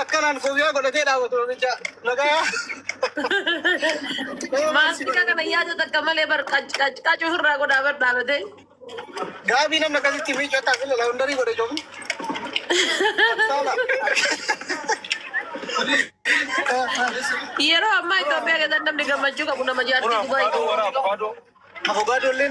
Akkanaan koofiyyaa godhatee dhaabatu namicha nagayaa. Maastika kana yaada takka malee bar qac qac qac ofirraa godhaa bar dhaabatee. Gaabii namni akkasitti miicoo taas ilala hundarii godhe joomu. Saala. Yeroo ammaa Itoophiyaa keessatti namni gammachuu qabu nama jaartii Dubaay. Afogaadoo illee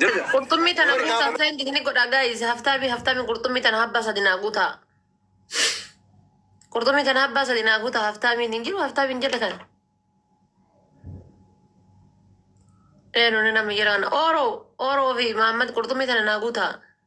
Jirra. Qurxummii tana Warri guutaa gaafa- saayinti ni godhaa gaayis haftaamii haftaamii qurxummii tana habbaa sadi naa guutaa. Qurxummii tana habbaa sadi naa guutaa haftaamiin hin jiru haftaamiin jala kana. Eenyu ni nama jiraana. Ooroo ooroo fi Maammad qurxummii tana naa guutaa.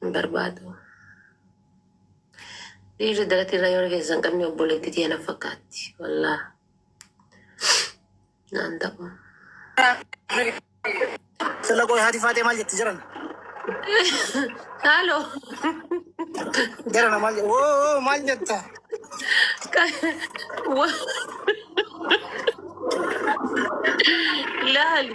hin barbaadu. Dhiirri daratii irraa yoo rifeensa hin qabne obboleetti tiyya na fakkaatti. Wallaa naan ta'u. Sila qoy hati faatee maal jetti jiran? Haaloo Jirana maal jetta? Oo oo maal jetta? laali.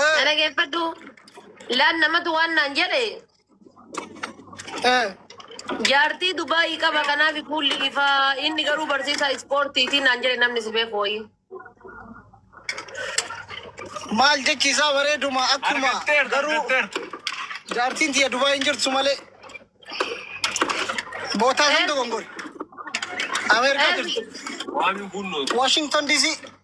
Eh, Dhaggeeffadhu. Laan namatu waan naan jedhe eh. jaartii Dubaayii qaba kanaaf fuulli ifaa inni garuu barsiisaa ispoortiitii naan jedhe namni si beeku wayii. Maal jechi isaa bareeduma akkuma Argatteertu, garuu argatteertu. jaartiin tiyya Dubaay hin jirtu malee bootaa kan Eh. dogongore. Ameerikaa Eh. jirtu. Waamiin kun Washington DC.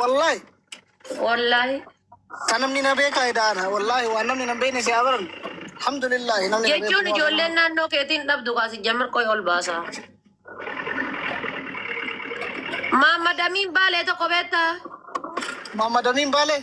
Wallahi. Wallahi. Kan namni na beekaa edaana. Wallahi waan namni na beekne si abaran. Alhamdulillah namni na Jechuun beeku. ijoolleen naannoo keetiin dhabdu kaasi jamir qoy ol baasa. Maammad Amiin Baalee tokko beektaa? Maammad Amiin Baalee.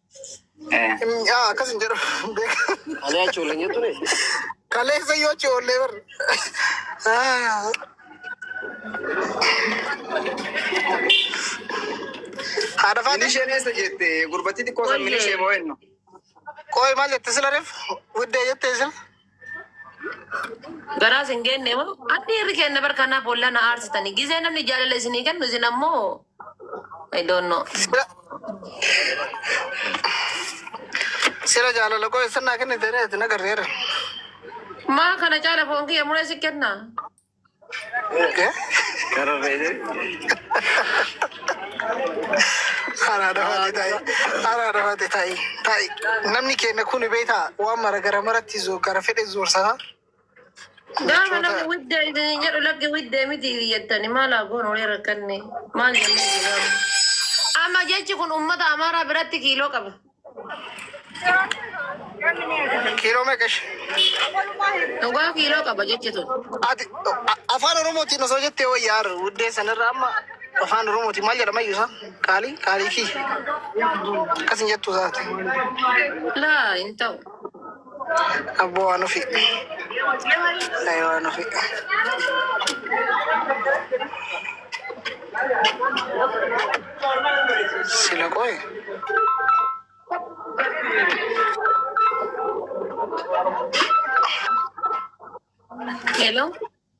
Yaa akkas hin jedhu. Kalee achi oolleen jettu ne. Kaleessa yoo achi oollee bar. Haadha faati. Minisheen eessa jette gurbattii xiqqoo san minishee moo ennu. Qoy maal jette sila ref? Widdee jette sila. Garaa isin geenne moo? Addi irri keenya bar kanaa boolla na aarsitani. Gizee namni jaalala isinii kennu isin ammoo I don't know. Sila sila jaalala koo eessan naa kennite reeti na garreera. Maa kana caala foon kiyya muree si kenna. Haraa dafate ta'i. Haraa dafate ta'i. Ta'i. Namni keenya kun beektaa waan mara gara maratti zo gara fedhe zoorsaa. Gaafa namni widda isin jedhu lakki widda miti jettani maal haa goonu wayii rakkanne maal jennee jiraannu. Amma jechi kun uummata Amaaraa biratti kiiloo qaba. Kiiloo meeqa ishee? Dhugaa kiiloo qaba jechi tun. Ati a- afaan Oromootiin osoo jettee wayyaa har'a wuddee sanarra amma afaan Oromootiin maal jedhama iyyuu isaa? Qaalii? Qaalii kii? Akkas hin jettu isaati. Laa hin ta'u. Abboo waan ofi. Ay waan ofi. Sila qoy. Hello.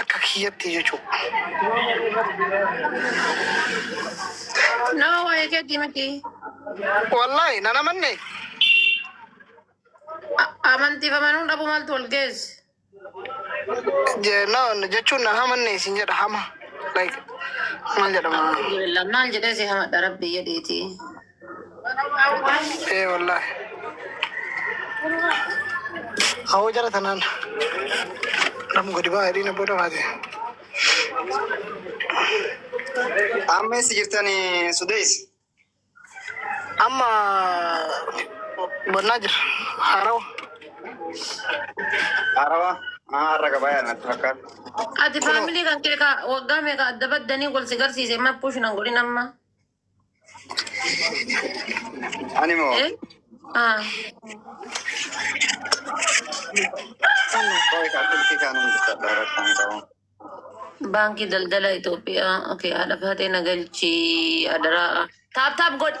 Akka kiyyatti jechu. No, waa'ee keetii miti. Wallahi nan amanne. A- Amantiif amanuu dhabuu maaltu wal geesse? Je- na- Jechuun nan amanne isin jedha hama. Like maal jedhama? Alhamdulillah, Maal jedhee si hamadha rabbi jedhiiti. Ee wallaahi. Awoo jara tanaan. Namu gadi baa jedhiin abboo dafaati. Amma eessa jirtani Sudees? Amma bonnaa jira. Haarawa. Haarawa. Maa har'a gabayaa natti fakkaata. Ati faamilii kan kee ka waggaa meeqa adda baddanii wal si garsiise amma push nan godhin amma. Ani moo Eh? Ah. qoy kaffaltii kaanuu bitadha rakkoon qabu. Baankii daldala Itoophiyaa. Okay, haadha faatee na galchii adaraa. Taap taap godhi.